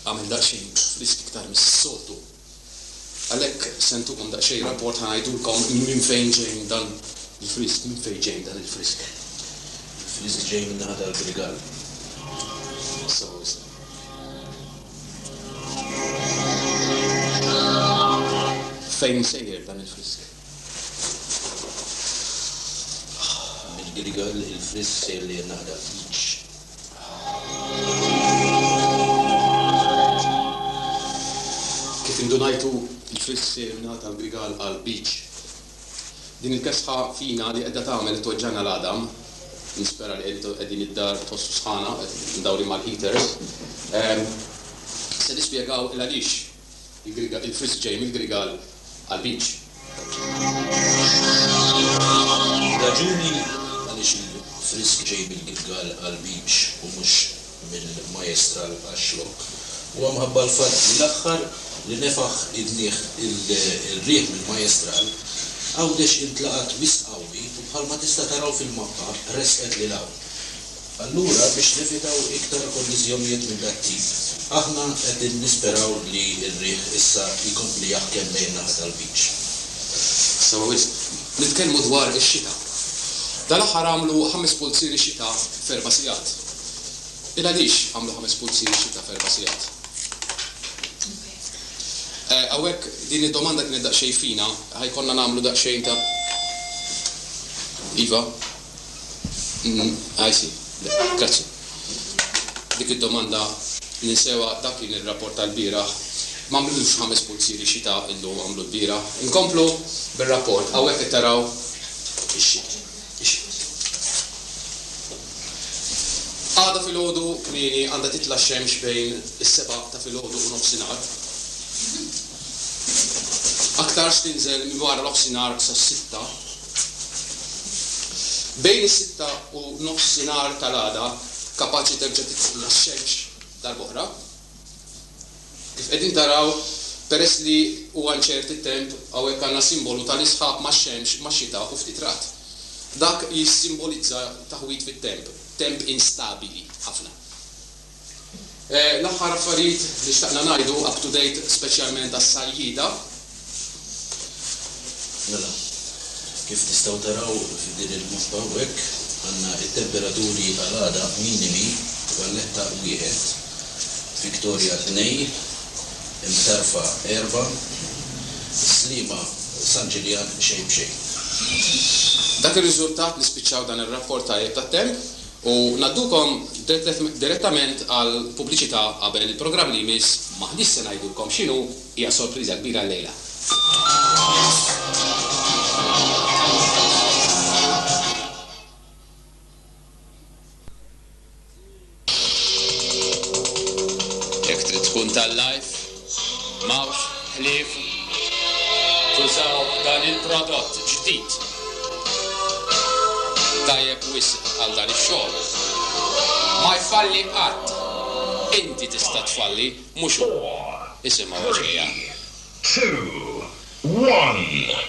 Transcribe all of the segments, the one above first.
Għamel daqsxejn frisk iktar mis-soltu. Għalhekk se ntukom daqsxejn rapport ħa ngħidulkom minn fejn ġejn dan il-frisk, minn fejn ġejn dan il-frisk. Il-frisk ġej min-naħa tal-Grigal. Sew isma'. Fejn sejjer dan il-frisk? Mill-Grigal il-frisk sejjer lejn naħa tal-Ħliġ. Kif indunajtu jfiss x'għinna ta' Grigal għal Beach. Din il-kesħa fina li qiegħda tagħmel li tweġġagħna l-għadam, nispera li qegħdin id-dar tħossu sħana, mdawrin mal-heaters, se nispjegaw il-għaliex Il-frisk ġej mill-Grigal għall-beach. Ir-raġuni għaliex il-frisk ġej mill-Grigal għall-beach u mhux mill-Majestral għax-Xlokk huwa mħabba l-fatt li l-aħħar li nefaħ idnih ir-riħ mill-Majestral, Għawdex intlaqat wisq qawwi u bħalma tista' taraw fil-mappa resqet lil hawn. Allura biex nevitaw iktar kolliżjonijiet minn dak tip, aħna qegħdin nisperaw li r-riħ issa jkompli jaħkem lejn in-naħa tal-beach. Sewa wisq. Nitkellmu dwar ix-xita. Dal-aħħar għamlu ħames pulzieri xita f'erba' sigħat. Ilgħaliex għamlu ħames pulzieri xita f'erba' sigħat? Eh, hawnhekk din id-domanda kienet daqsxejn fina, ħa jkollna nagħmlu daqsxejn ta' Iva. I see. Grazzi. Dik id-domanda ninsewha, dak kien ir-rapport tal-bieraħ. M'għamlux ħames pulzieri xita illum, għamlu l-bieraħ. Inkomplu bir-rapport. Hawnhekk qed taraw ix-xita. Għada filgħodu kmieni għandha titla' x-xemx bejn is-sebgħa ta' filgħodu u nofsinhar. Aktarx tinżel minn wara nofsinhar sas-sitta. Bejn is-sitta u nofsinhar tal-għada kapaċi terġa' titilgħu x-xemx darb'oħra. Kif qegħdin taraw, peress li huwa inċert it-temp, hawnhekk għandna simbolu tal-isħab max-xemx max-xita u ftit ragħad. Dak jissimbolizza taħwid fit-temp, temp instabili ħafna. L-aħħar affarijiet li xtaqna ngħidu up to date speċjalment għas-Sajjieda. Mela, kif tistgħu taraw f'din il-mappa hawnhekk, għandna t-temperaturi għal għada minimi, Valletta 1, Victoria 2, Imtarfa 4, is-Sliema San Ġiljan xejn b'xejn. Dak ir-riżultat li spiċċaw dan ir-rapport tajjeb tat-temp, U ngħaddukom direttament għall-pubbliċità qabel il-programm li jmiss, m'aħniex se ngħidulkom x'inhu, hija sorpriża kbira llejla. M'hawnx ħlief, tużaw dan il-prodott ġdid tajjeb wisq għal dan ix-xogħol. Ma jfalli qatt. Inti tista' tfalli, mhux hu. Isimgħu għax qiegħ. Three, two, one.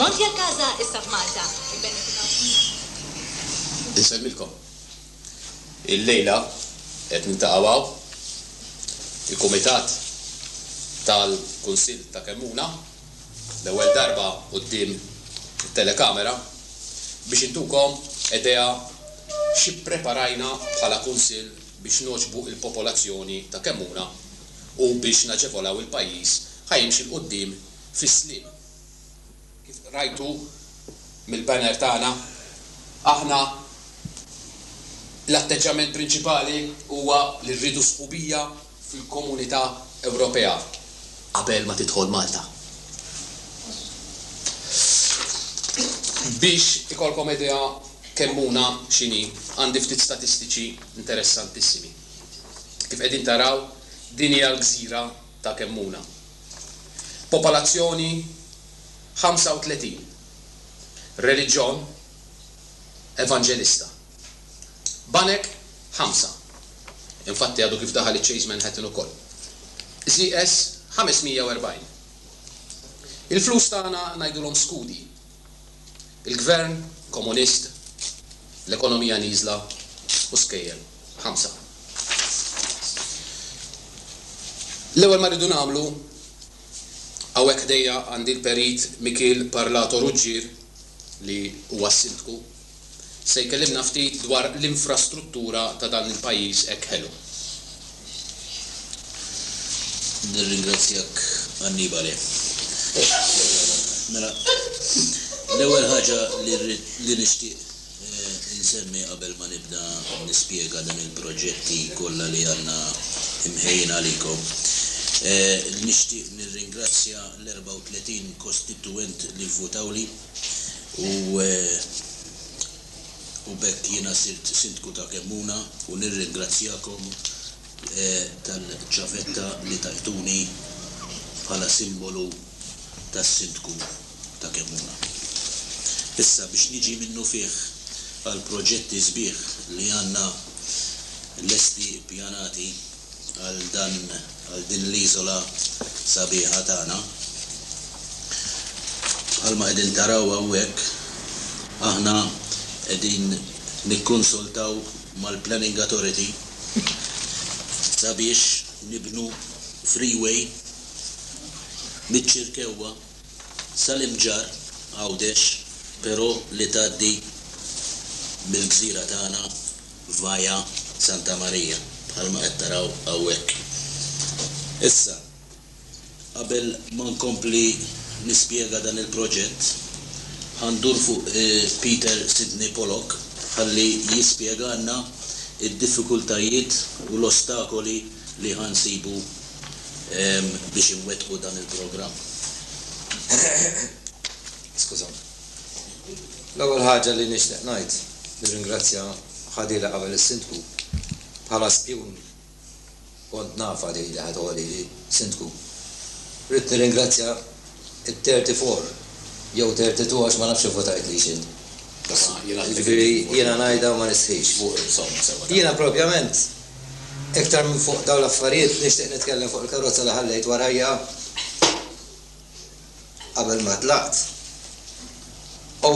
Monti a Casa issa f'Malta! Ibbenefikaw f'Malta! Insellmilkom. Illejla qed niltaqgħu hawn, il-Kumitat tal-Kunsill ta' Kemmuna. l-ewwel darba quddiem it-telekamera biex intukom idea xi ppreparajna bħala Kunsill biex nogħġbu l-popolazzjoni ta' Kemmuna u biex naġevolaw il-pajjiż ħa jimxi 'l quddiem fis-Sliema. Kif rajtu mill-banner tagħna, aħna l-atteġġjament prinċipali huwa li rridu sħubija, fil-Komunità Ewropea qabel ma tidħol Malta. Biex ikollkom idea kemm una x'inhi, għandi ftit statistiċi interessantissimi. Kif qegħdin taraw, din hija l-gżira ta' kemm una. Popolazzjoni 35. Reliġjon, Evanġelista. Banek ħamsa. Infatti għadu kif daħal iċ-Chase Manhattan ukoll. ZS 540. Il-flus tagħna ngħidulhom skudi. Il-Gvern Komunist, l-ekonomija nieżla u skejjel. Ħamsa. L-ewwel ma rridu nagħmlu, hawnhekk ħdejja għandi l-Perit Mikiel Parlato Ruggier li huwa s-Sindku se jkellimna ftit dwar l-infrastruttura ta' dan il-pajjiż hekk ħelu. Nirringrazzjak Annibale. Mela, l-ewwel ħaġa li rrid li nixtieq insemmi qabel ma nibda nispjega dan il-proġetti kollha li għandna imħejjin għalikom, nixtieq nirringrazzja l-34 kostitwent li vvutawli. u b'hekk jiena sirt Sindku ta' Kemmuna u nirringrazzjakom tal-ċavetta li tajtuni bħala simbolu tas-Sindku ta' Kemmuna. Issa biex niġi minnufih għall-proġetti sbieħ li għandna lesti ppjanati, għal dan għal din l-iżola sabiħa tagħna. Bħalma qegħdin taraw hawnhekk aħna qegħdin nikkonsultaw mal-Planning Authority sabiex nibnu freeway miċ-Ċirkewwa sal-Imġarr, Għawdex, però li tgħaddi mill-gżira tagħna Via Santa Maria, bħalma qed taraw hawnhekk. Issa, qabel ma nkompli nispjega dan il-proġett, ħa ndur fuq Peter Sidney Pollock ħalli jispjegalna d-diffikultajiet u l-ostakoli li ħa nsibu biex inwettqu dan il-programm. Skużawni. L-ewwel ħaġa li nixtieq ngħid, nirringrazzja Khadila qabel is-Sindku. Bħala spjun kont nafha din li ħa toħod ili Sindku. Ridt nirringrazzja t-thirty four jew thirty two għax ma nafx ivvutajtlix int. Jiġifieri jiena ngħidha u ma nistħix. Jiena propjament iktar minn fuq dawn l-affarijiet nixtieq nitkellem fuq il-karozza li ħallejt warajja. qabel ma tlaqt, u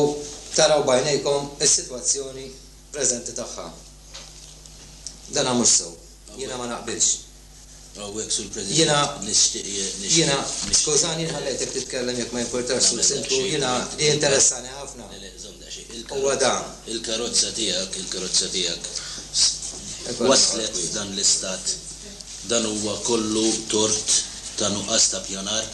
taraw b'għajnejkom is-sitwazzjoni preżenti tagħha. Dana mhux sew. Jiena ma naqbilx. Hawnhekk, Sur President, nixtieq, nixtieq, Jiena, skużani, inħallejtek titkellem jekk ma jimpurtax, Sur Sindku, jiena jinteressani ħafna. Huwa dan. Il-karozza tiegħek, il-karozza tiegħek waslet f'dan l-istat. Dan huwa kollu tort ta' nuqqas ta' pjanar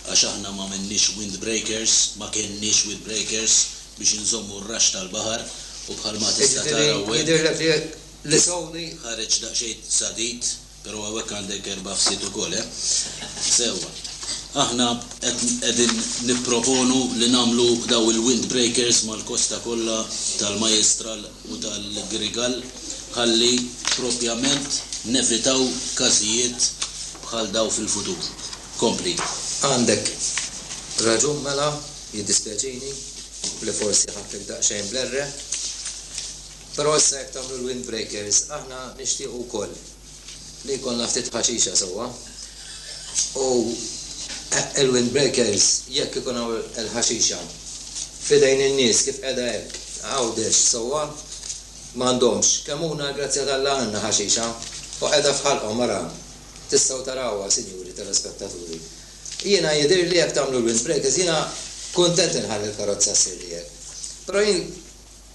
għax aħna m'għamilniex wind breakers, ma kenniex wind breakers biex inżommu r-raxx tal-baħar u bħalma tista' tara hawnhekk ħareġ daqsxejn sadid. Pero hawnhekk għandek erba' fsied ukoll, eh? Sewwa. Aħna qed qegħdin nipproponu li nagħmlu dawn il-windbreakers mal-kosta kollha tal-Majjistral u tal-Grigal ħalli propjament nevitaw każijiet bħal dawn fil-futur. Kompli. Għandek raġun mela, jiddispjaċini li forsi ħadtek daqsxejn bl-erre. Però issa jekk tagħmlu l-windbreakers aħna nixtiequ wkoll li jkollna ftit ħaxixa sewwa u l-windbreakers jekk ikun hawn il-ħaxixa f'idejn in-nies kif qiegħda hekk Għawdex sewwa m'għandhomx kemmuna l-grazzja t'Alla għandna ħaxixa u qiegħda f'ħalqhom ara tistgħu tarawha sinjuri telespettaturi jiena jidhirli jekk tagħmlu l-windbreakers jiena kuntent inħalli l-karozza ssirli hekk però jien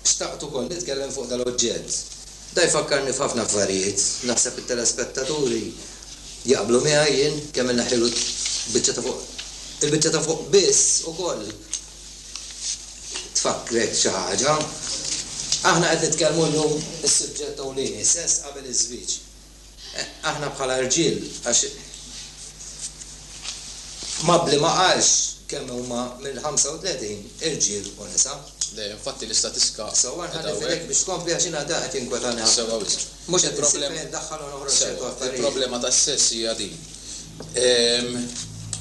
Xtaqt ukoll nitkellem fuq dal-oġġett. Dan jfakkarni f'ħafna affarijiet. Naħseb it-telespettaturi jaqblu miegħi jien kemm in-naħil u l-biċċa ta' fuq. Il-biċċa ta' fuq biss ukoll tfakkrek xi ħaġa. Aħna qed nitkellmu llum is-suġġett ewlieni, sess qabel iż-żwieġ. Aħna bħala rġiel, għax Mabli ma qalx kemm huma mill-35 irġiel u nisa. Le, infatti l-istatistika qiegħda hawnhekk. Sewwa nħalli f'idejk biex tkompli għax jiena dan qed jinkwetani ħafna. Sewwa wisq. Mhux qed insib fejn indaħħal u noħroġ ċertu affarijiet. Sewwa, il-problema tas-sess hija din.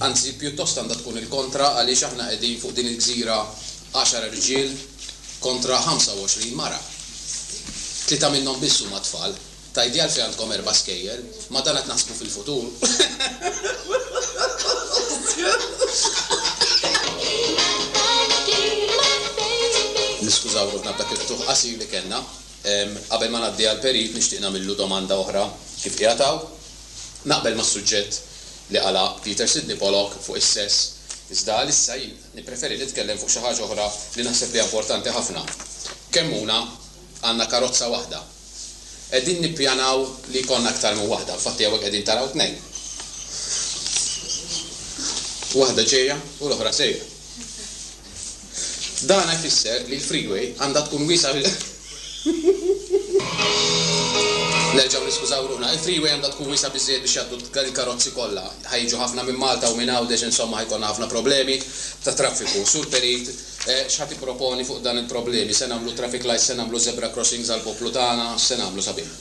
Anzi, pjuttost għandha tkun il-kontra għaliex aħna qegħdin fuq din il-gżira għaxar rġiel kontra 25 mara. Tlieta minnhom biss huma tfal. Tgħidli għalfejn għandkom erba' skejjel? Ma dan qed naħsbu fil-futur. Niskużaw ruħna b'dak il-ftuħ qasir li kellna. Qabel ma ngħaddi għal Perit nixtieq nagħmillu domanda oħra kif qiegħed hawn. Naqbel mas-suġġett li għalaq Peter Sidney Pollock fuq is-sess, iżda għalissa jien nippreferi nitkellem fuq xi ħaġa oħra li naħseb li hija importanti ħafna. Kemm huna għandna karozza waħda? Qegħdin nippjanaw li jkollna aktar minn waħda, infatti hawnhekk qegħdin taraw tnejn. Waħda ġejja u l-oħra sejra. Dan ifisser li l-freeway għandha tkun wiesgħa bil. Nerġgħu niskużaw ruħna. Il-freeway għandha tkun wiesgħa biżżejjed biex jgħaddu l-karozzi kollha. Ħa jiġu ħafna minn Malta u minn Għawdex insomma ħa jkollna ħafna problemi ta' traffiku. Sur Perit. X'ħa tipproponi fuq dan il-problemi? Se nagħmlu traffic lights, se nagħmlu zebra crossings għall-poplu tagħna, x'se nagħmlu sabiħ?